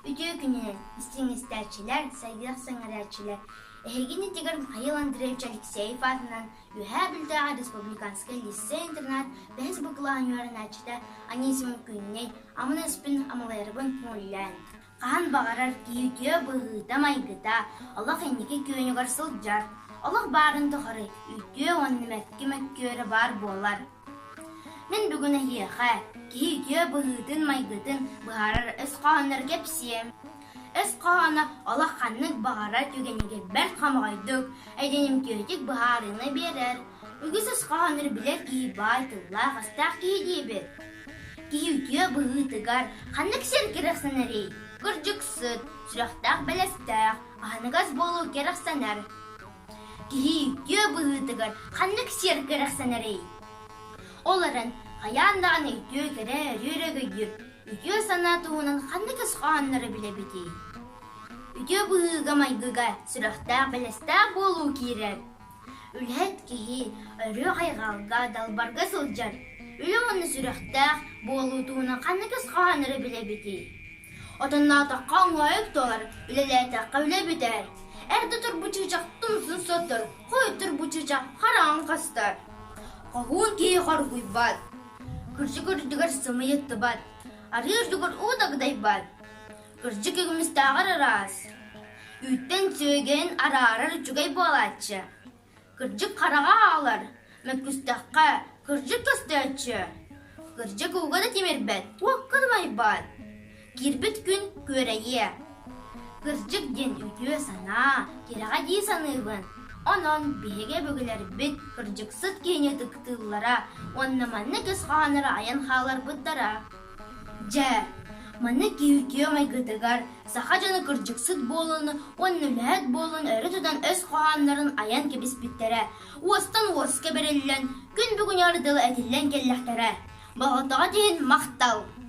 Үтүө күнү, истиҥ истээччилэр, сайдыах сэҥээрээччилэр! Эһигини Тигр Михаил Андреевич Алексеев аатынан Үөһээ Бүлтээҕи республиканскай лиссей-интернат бэһис бакылаанньа үөрэнээччитэ Анисимов Күннэй Аманаспын Амалайарбын мөлүйөөн Хаһан баҕарар кииргиэ быһыыта-майгыта олох инники күөнүгэр сылдьар, олох баарын тухары үтүө уонна мэткэ мөккүөрэ баар буолар. Мин бүгүн эһиэхэ кииргиэ быһыытын-майгытын быһаарар өс хоһооннору кэпсиэм. Өс хоһооно олох ханнык баҕарар түгэнигэр бэрт хомоҕойдук, эдьиҥимтиэтик быһаарыыны биэрэр, Үгүс оскуолалар билэр киһи баай тыллаах-өстөөх киһи диэбит. Киһи үтүө быһыытыгар ханнык сир кэрэхсэнэрий? Кырдьыксыт, сүрэхтээх бэлэстээх, аһыныгас буолуу кэрэхсэнэр. Киһи үтүө быһыытыгар ханнык сир кэрэхсэнэрий? Олорон хайаан даҕаны үтүө кэрэ өрүөрэгөйдүк, үтүө санаа туһунан ханнык оскуолалары билэбитий? Үтүө быһыыга-майгыга сүрэхтээх бэлэстээх буолуу киирэр. Үлэһит киһи өрүү хайҕалга, далбарга сылдьар, үлэ уонна сүрэхтээх буолуу туһунан ханнык ис хоһооннору билэбитий? Отонноотоххо оҥоойук туолар, үлэлээтэххэ үлэ бүтэр. Эрдэ отор бу чыычах тумсун соттор, хойуттар бу чыычах хараҕын хастар. Хоһуун киһи хоргуйбат, күрсү көрдүгэр сымыйыттыбат, арыыр дугар уу дагдайбат. Кырдьык үгүмүстээҕэр ыраас, үүттэн сүөгэйин араарар үчүгэй буолааччы. Кырдьык хараҕа аалар, мөккүстэххэ, кырдьык көстөөччү. Кырдьык ууга да тимирбэт, туохха да майбаат. Киирбит күн күөрэйиэ. Кырдьык диэн үтүө санаа, тирэҕэ дии саныыбын. Онон биһиги өбүгэлэрбит кырдьыксыт киһини ытыктыыллара уонна маннык ис хоһоонноро айан хааларбыттара. Дьэ, маннык киһитии майгытыгар саха дьоно кырдьыксыт буолан уонна үлэһит буолан өрө тутан өс хоһооннорун айан кэбиспиттэрэ, уостан уоска бэриллэн, күн бүгүнү ардыла этиллэн кэллэхтэрэ. Болҕомтоҕут иһин махтал!